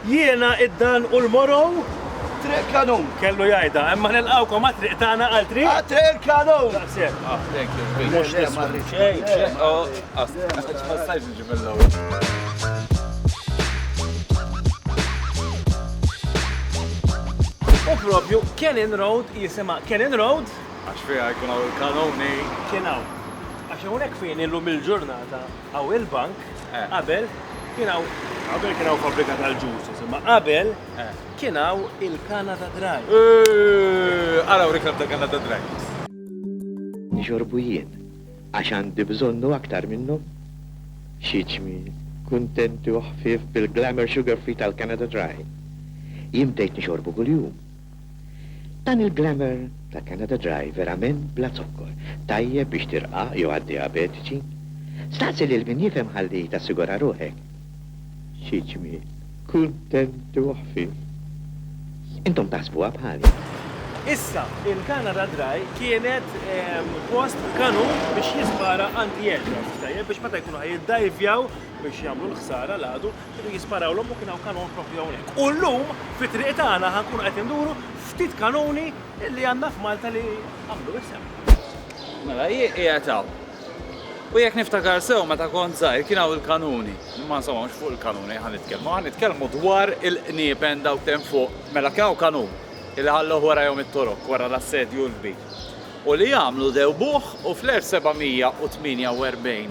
Jiena, id-Dan u l-Morow. Triq Kanun. Kellu jgħidha, imma nilqgħukom għat-triq tagħna għal triq. Għat-triq il-Kanun! Daqshekk. Ah, thank you, Zbik. Mhux tisma' xejn. U propju Cannon Road jisimha Cannon Road. Għax fiha jkun hawn il-kanuni. Kien hawn. Għax hawnhekk fien illum il-ġurnata. Hawn il-bank qabel kien hawn qabel kien hawn fabbrika tal-ġusus, imma qabel kien hawn il-Canada Dry. Ara wrik nabda Canada Dry. Nixorbu jien għax għandi bżonnu aktar minnhom. Xi ġmiel, kuntenti u ħfief bil-glamour sugar-free tal-Canada Dry. Jien bdejt nixorbu kuljum. Dan il-glamour ta' Canada Dry verament bla zokkor, tajjeb biex tirqaq jew għad dijabetiċi? Staqsi lil min jifhem ħalli tassigura ruħek. Xi ġmiel. Kuntenti u ħfief. Intom taħsbuha bħali? Issa, il-Canada Dry kienet post f'kanun biex jispara anti-aircraft, tajjeb, biex meta jkunu ħa jiddajvjaw biex jagħmlu l-ħsara l-għadu, Kienu jisparawlhom u kien hawn kanun proprju hawnhekk. U llum fit-triq tagħna ħa nkunu qed induru ftit kanuni li għandna f'Malta li għamlu isem. Mela jien qiegħed hawn. U jekk niftakar sew meta kont żgħir kien hawn il-kanuni. Imma insomma mhux fuq il-kanuni ħa nitkellmu, ħa nitkellmu dwar il-qniepen dawk t'hemm fuq. Mela kien hawn kanun li ħalluh warajhom it-Torok wara l-assedju l-kbir. U li għamlu dewbuh u fl-1748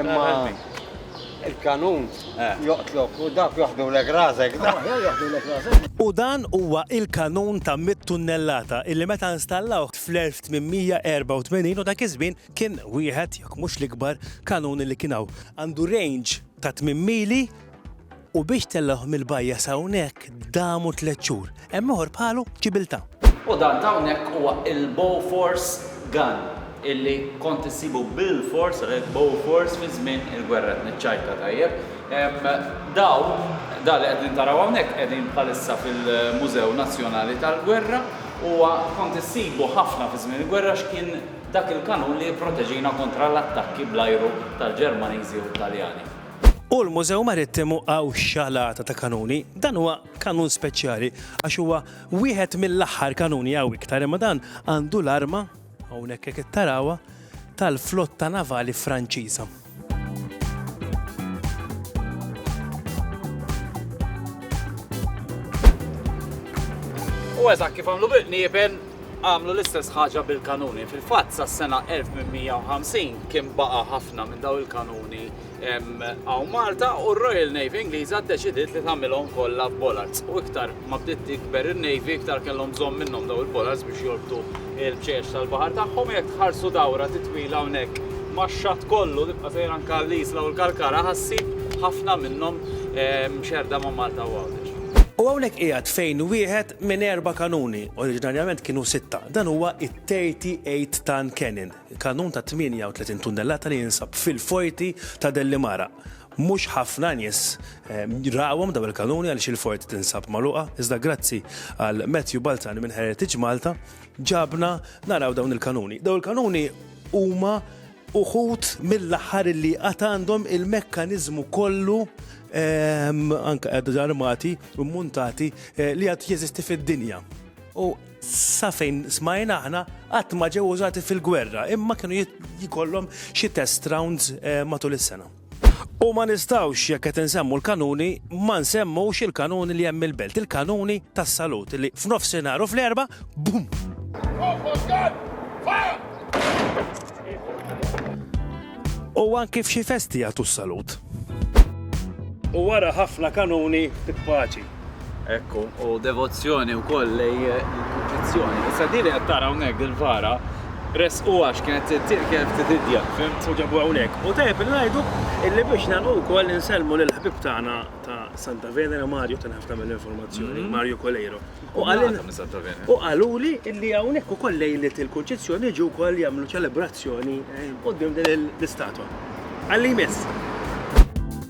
Imma il-kanun joqtlok u dawk joħdulek rasek. U dan huwa il-kanun ta' mitt tunnellata illi meta installawh fl-1884 u dak iż-żmien kien wieħed, jekk mhux l-ikbar, kanun li kien hawn. Għandu range ta' tmien mili U biex tellgħuh mill-bajja s'hawnhekk damu tliet xhur. Hemm ieħor bħalu f'Ċibiltà. U dan t'hawnhekk huwa il-Bofors Gun, illi kont issibu bilfors, għalhekk Bofors, fi żmien il-gwerra qed niċċajta tajjeb. Dawn, dan li qegħdin taraw hawnhekk qegħdin bħalissa fil-Mużew Nazzjonali tal-Gwerra, huwa kont issibu ħafna fi żmien il-gwerra għax kien dak il-kanun li jipproteġina kontra l-attakki bl-ajru tal-Ġermaniżi u t-Taljani. U l-Mużew Marittimu hawn xalata ta' kanuni. Dan huwa kanun speċjali għax huwa wieħed mill-aħħar kanuni hawn iktar imma dan għandu l-arma, hawnhekk jekk qed tarawha, tal-flotta navali Franċiża. U eżatt kif għamlu bil-qniebel, għamlu l-istess ħaġa bil-kanuni. Fil-fatt sa sena 1850 kien baqa' ħafna minn daw il-kanuni hawn Malta u r-Royal Navy Ingliża ddeċidiet li tagħmilhom kollha f'bollards. U iktar ma bdiet tikber in-Navy iktar kellhom bżonn minnhom daw il-bollards biex jorbtu l-bċejjeċ tal-baħar tagħhom jekk tħarsu dawra titwila hawnhekk max-xatt kollu tibqa' sejra anke l-Isla u l-Kalkara ħassib ħafna minnhom mxerrda ma' Malta u Għawdex. U hawnhekk qiegħed fejn wieħed minn erba' kanuni, oriġinarjament kienu sitta, dan huwa t-38 ton cannon, Kanun ta' 38 tunnellata li jinsab fil-Forti ta' Dellimara. Mhux ħafna nies rawhom dawn il-kanuni għaliex il-Forti tinsab magħluqa, iżda grazzi għal Matthew Balzan minn Heritage Malta ġabna naraw dawn il-kanuni. Dawn il-kanuni huma uħud mill-aħħar li għad għandhom il-mekkaniżmu kollu anke għad armati u mmuntati li għad jeżisti fid-dinja. U sa fejn smajna aħna qatt ma ġew użati fil-gwerra, imma kienu jkollhom xi test rounds eh, matul is-sena. U ma nistawx jekk qed insemmu l-kanuni ma nsemmux il-kanuni li hemm il-belt, il-kanuni tas-salut li f'nofsinhar u fl-erba' bum. U anki f'xi festi jagħtu s-salut. U wara ħafna kanuni titpaċi. Ekku, u devozzjoni wkoll lej il-kompetizzjoni. Issa din li qed tara hawnhekk il-vara resqu għax kienet tittir kienet titidja, fimt? U ġabu hawnhekk. U tajjeb li ngħidu illi biex nagħlqu wkoll insellmu lil ħbib tagħna ta' Santa Venera Mario ta' ħafna mill-informazzjoni, mhm. Mario Coleiro. U u qaluli illi hawnhekk ukoll lejlet il-Kunċizzjoni ġew ukoll jagħmlu ċelebrazzjoni eh, qudiem din l-istatwa. Għalli jmiss.